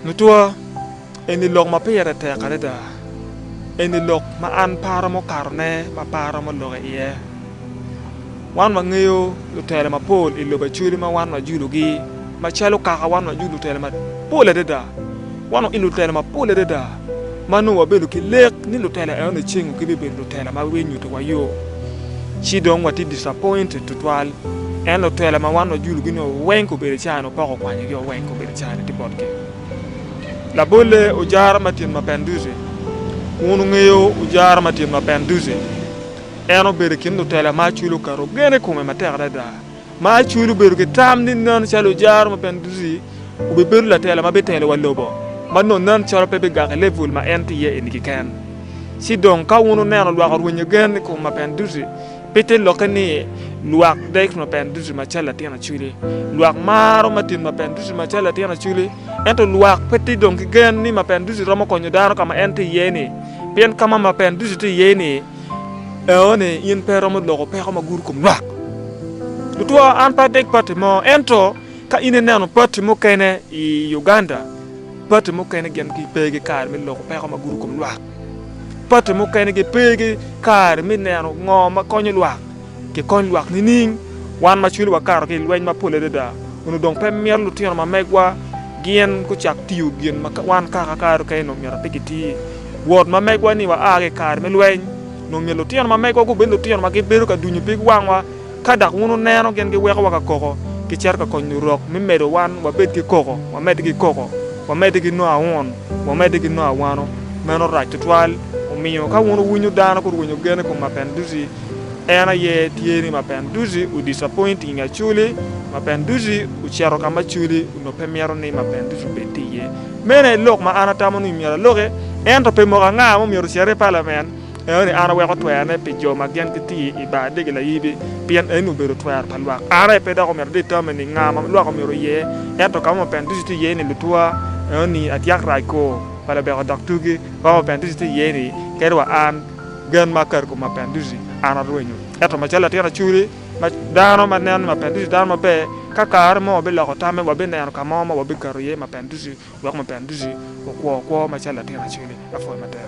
Lutwa, eni lok ma pire tek adada. Eni lok ma an paro mukatone ma pe aromo lok iye. Wan wangeyo lutela mapol i lobo Acholi ma wan wajulugi macalo kaka wan wajulu lutela mapol adada. Wan wailo lutela mapol adada. ma nongo wabedo ki lek ni lutela eno nicingo gibibedo lutela ma gibinyuto wa yo, ci dong watye disappointed tutwal. En lutela ma wan wajulugi nio weng kobedo cani opoko okwanyogi o weng kobedo cani tye botgi. Labolle ojara ma tyen ma pen duce. Wun wungeyo ojara ma tyen ma pen duce? En obedo i kin lutela ma acwele oketo gen i kome matek adada. Ma acwiny obedo ki tam ni nen calo ojaro ma bene ducu-ci obibedo latela ma bitelo wa lobo, ma nongo nen calo pe bigak i level ma en tye iye eni keken. Ci dong ka wun wuneno lwak orwenyo gen i kom ma bene ducu, pe ite lokke ni lwak dek ma bene ducu macalo latin acwili. Lwak maro madit ma bene ducu macalo latin acwili, ento lwak pe tye dong ki gen ni ma bene ducu romo konyo dano ka ma en tye iye-ni, pien ka ma ma bene ducu tye iye-ni, Eo ni in pe iromo loko peko ma gudo kom lwak. Tutwa an pe adeg pati mo, ento ka in ineno pati mukene i Uganda, pati mukene gin pe gi kare me loko peko ma gudo kom lwak. Pati mukene gi pe gi kare me neno ngo ma konyo lwak. Kikony lwak nining? Wan ma cwinywa kato ki i lweny mapol adada onongo dong pe mito lutino ma megwa gin gucak tiyo gin ma wan kaka kare dong kene myero ape giti. Wod ma megwa-ni wa a ki i kare me lweny, onongo myero lutino ma megwa gubed lutino ma gibedo ka dunyo pig wangwa. Ka dok wun wuneno gin giwekowa ka koko, gicito ka konyo Lurok me medo wan wabed ki koko, wamedde ki koko, wamedde ki nongo aun, wamedde ki nongo awano. Meno rac tutwal! Omiyo, ka wun wuwinyo dano gurwenyo gen i kom Mapendusi, En aye tye ni ma pen duzi u disappoint inge aculi, ma pen duzi u ceto ka ma aculi onongo pe mito ni ma pen duzi obed tye iye. Meno aye lok ma an atamo ni myero aloki, ento pe moko anga ma omyero ocere i palament, eno ni an aweko twera ne pi jo ma gen giti i bar adegi layibi, pien eno obedo twera pa lwak. An aye pe dok omyero adetermine ni nga ma lwak omyero oye, ento ka ma ma pen duzi tye iye ni lutuwa, eno ni atyak rac ko pa labeko dok tugi, ka ma ma pen duzi tye iye ni kadi wa an, Gen ma akato i kom mapenduti, an arwenyo. Ento macalo latin acoli, dano ma neno ni mapenduti dano maber, ka kare mo wabiloko tamme, wabineno ka mo ma wabikato iye mapenduti wek mapenduti okwo kwo macalo latin acoli. Apwoyo matek.